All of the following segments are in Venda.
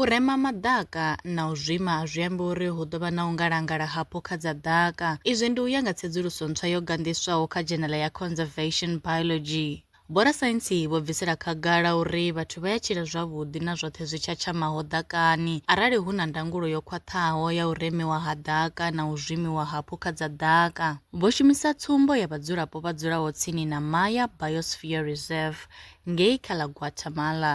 U rema maḓaka na u zwima a zwi ambi uri hu ḓo vha na u ngalangala ha phukha dza ḓaka. Izwi ndi u ya nga tsedzuluso ntswa yo ganḓiswaho kha dzhenala ya Conservation Biology. Vhorasaintsi vho bvisela khagala uri vhathu vha ya tshila zwavhuḓi na zwoṱhe zwi tshatshamaho ḓakani arali hu na ndangulo yo khwaṱhaho ya u remiwa ha ḓaka na u zwimiwa ha phukha dza ḓaka. Vho shumisa tsumbo ya vhadzulapo vha dzulaho tsini na Maya Biosphere Reserve ngei kha ḽa Guatemala.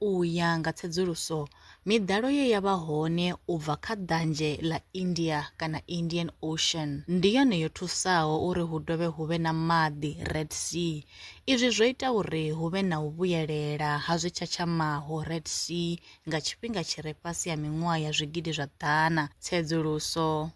U ya nga tsedzuluso, miḓalo ye ya vha hone u bva kha Ḓanzhe ḽa India kana Indian Ocean ndi yone yo thusaho uri hu dovhe hu vhe na maḓi, Red Sea. Izwi zwo ita uri hu vhe na u vhuyelela ha zwi tshatshamaho, Red Sea, nga tshifhinga tshi re fhasi ha miṅwaha ya zwigidi zwa ḓana. Tsedzuluso.